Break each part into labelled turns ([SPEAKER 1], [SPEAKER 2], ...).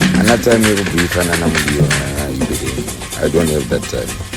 [SPEAKER 1] Ana time yekubhuyifana namudiwa I don't have that time.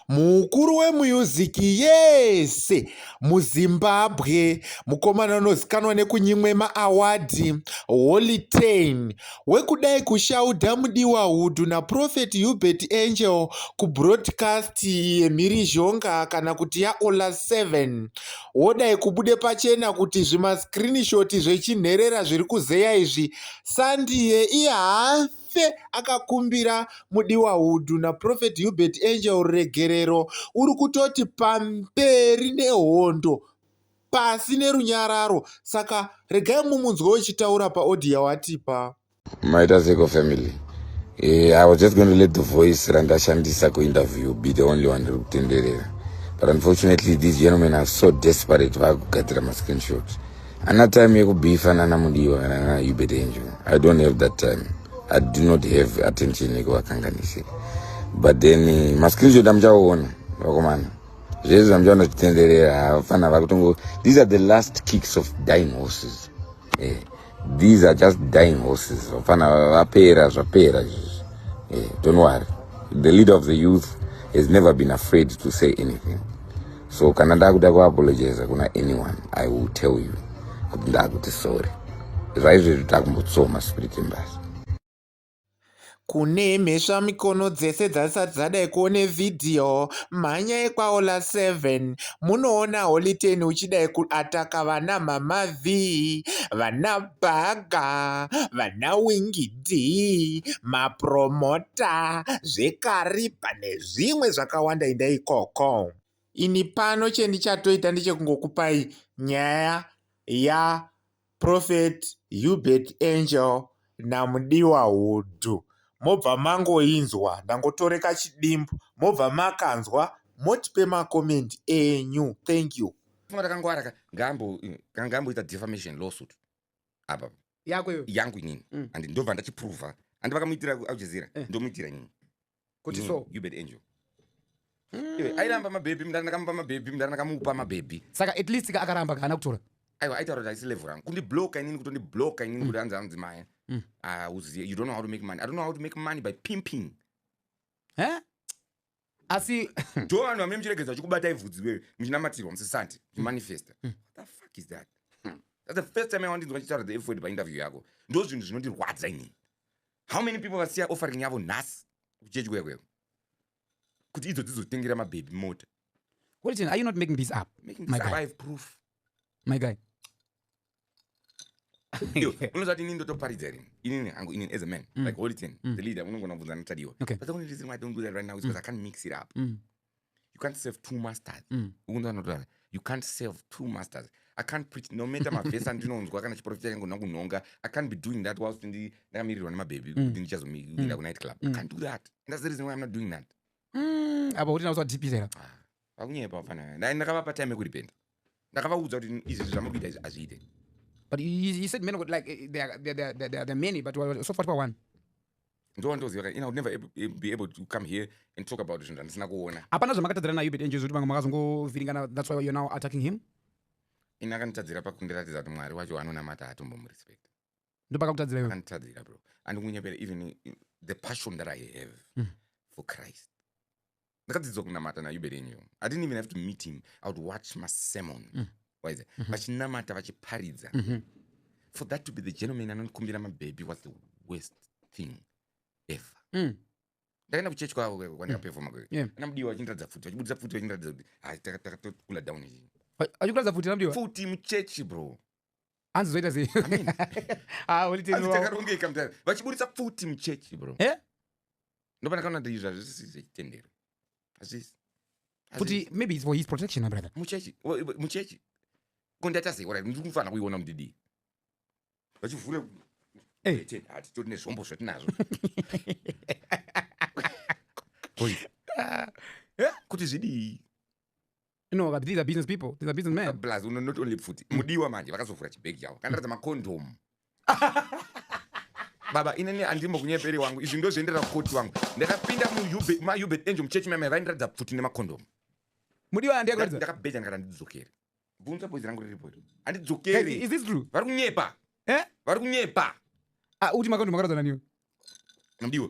[SPEAKER 2] mukuru wemuyuziki yese muzimbabwe mukomana unozikanwa nekunyimwe maawadhi holitain wekudai kushaudha mudiwa hudhu naprofeti hubert angel kubroadcast yemhirizhonga kana kuti yaola 7 Wodai kubude pachena kuti zvimascreenshot zvechinherera zviri kuzeya izvi Sandie iye haafe akakumbira mudiwa Hudu naProphet Hubert Angel ruregerero uri kutoti pamberi nehondo pasi nerunyararo saka regai mumunzwe wechitaura paaudio yawatipa. Maita seko
[SPEAKER 1] family. Eh, I was just going to let the voice randashandisa kuinterview be the only one riri kutenderera. But unfortunately these gentlemen are so desperate vakugadzira ma screenshot. Ana time yekubeefa nana mudiwa kana nana Hubert Angel. I don't have that time. I do not have attention yekuvakanganise. But then eh, ma screenshot amuchaona vakomana. Zvese zvamuchaona zvitenderera hapana vakutongo these are the last kicks of dying horses. eh, these are just dying horses vafana vapera zvapera izvizvi eh, don't worry the leader of the youth has never been afraid to say anything so kana ndakuda kuapologiza kuna anyone i will tell you kuti ndakuti sorry zvaizvezvi takumbotsoma spirit embasi kune
[SPEAKER 2] mhesva mikono dzese dzasati dzadai kuone vhidhiyo mhanyai kwaola 7 munoona holiten uchidai kuataka vana mama v vana bhaga vana wingi d mapromota zvekaripa nezvimwe zvakawanda inda ikoko ini pano chendichatoita ndechekungokupai nyaya ya Prophet Hubert Angel naMudiwa Hudhu mobva mangoinzwa ndangotore kachidimbu mobva makanzwa motipe macoment enyu thank you funga takangwara ka
[SPEAKER 3] ngambo kana ngamboita defamation lawsuit apa yako iyo yangu inini mm. and ndobva ndachiprova and vakamuitira kualjazira eh. ndomuitira inini kuti so
[SPEAKER 4] you bet angel
[SPEAKER 3] hmm. airamba mabhebhi mndara ndakamupa mabhebhi mndara ndakamupa mabhebhi saka at least ka akaramba
[SPEAKER 4] kaana kutora aiwa aitaura kuti aisi
[SPEAKER 3] level rangu kundibloka inini kutondibloka inini kuti anzi anzi maya hmm. ah, uzive you don't know how to make money i don't know how to make money by pimping eh?
[SPEAKER 4] asi do vanhu vamene
[SPEAKER 3] muchiregedza chikubatai vhudzi wewe muchinamatirwa musisanti muchimanifesta hmm. the fuck is that that's the first time i wandinzwa chitaura the f word painterview yako ndo zvinhu zvinondirwadza inini how many people vasiya offering yavo nhasi kuchechi kuya kuya kuti idzo dzizotengera mabhebhi mota Wilton, are you
[SPEAKER 4] not making this up? Making this My up, guy. I have proof.
[SPEAKER 3] My guy. Yo, unonzwa kuti inini ndotoparidza rini inini hangu inini as a man like holy ten the leader unongona kubvunza natadiwa Okay. but the only reason why i don't do that right now is because i can't mix it up Mm. you can't serve two masters mm. ukunzanotara you can't serve two masters i can't preach no matter mavhesi andinonzwa kana chiprofita changu ndina kunhonga i can't be doing that whilst ndi ndakamirirwa nemabhebhi mm. kuti ndichazomiinda mm. kunight club i can't do that and that's the reason why i'm not doing that apa kuti
[SPEAKER 4] nauswa dipirera vakunyepa
[SPEAKER 3] fana ndakavapa time yekuripenda ndakavaudza kuti izvi zvamuri kuita izvi hazviite but he
[SPEAKER 4] said many like eh, there are, there, there, there are many but so far one ndovandoziva
[SPEAKER 3] ka ina would never be able to come here and talk about zvinhu zvandisina kuona hapana zvamakatadzira nayo but angels kuti vanga
[SPEAKER 4] makazongovhiringana that's why you're now attacking him ina
[SPEAKER 3] akanditadzira pakundiratidza kuti mwari wacho anonamata hatombomurespekta ndopakakutadzira iwe akanditadzira bro andikunyeperera even the passion that i have mm. for christ ndakadzidzwa kunamata nayuberenyu i didn't even have to meet him i would watch masermon mm. waize mm -hmm. vachinamata vachiparidza mm -hmm. for that to be the gentleman anondikumbira mabhebhi was the worst thing ever mm. ndakaenda kuchechi kwavo kweko kwandikapefoma kweko yeah. anamudiwa vachindiratidza futi vachibudisa futi vachindiratidza kuti hai takatokula down ichi vachikuratidza futi anamudiwa
[SPEAKER 4] futi muchechi bro
[SPEAKER 3] hanzi zoita
[SPEAKER 4] sei ah
[SPEAKER 3] uli teni wao takarongeka mtani vachiburitsa pfuti muchechi bro eh ndopana kana ndi izvi hazvisi zvichitendera hazvisi pfuti
[SPEAKER 4] maybe it's for his protection my brother muchechi muchechi
[SPEAKER 3] ko ndaita sei ora ndiri kufanira kuiona mudidi vachivhura eh teni hati toti nezvombo zvatinazvo kuti zvidii No,
[SPEAKER 4] but these are business people. These are business men. Plus, no, not only pfuti.
[SPEAKER 3] Mm. Mudiwa manje vakazovhura chibhegi chavo. Kana ratadza macondom. baba inini andimo kunyeperi wangu izvi ndozviendera kukoti wangu ndakapinda mumaubet angel muchechi mame vaindiratidza pfuti nemakondomu mudiwa
[SPEAKER 4] andiakuratidza ndakabheja ndikati
[SPEAKER 3] andidzokere bvunza boizi rangu riripo andidzokere is this true vari
[SPEAKER 4] kunyepa
[SPEAKER 3] eh
[SPEAKER 4] vari kunyepa
[SPEAKER 3] ah uti makondomu
[SPEAKER 4] akaratidza naniwe mudiwa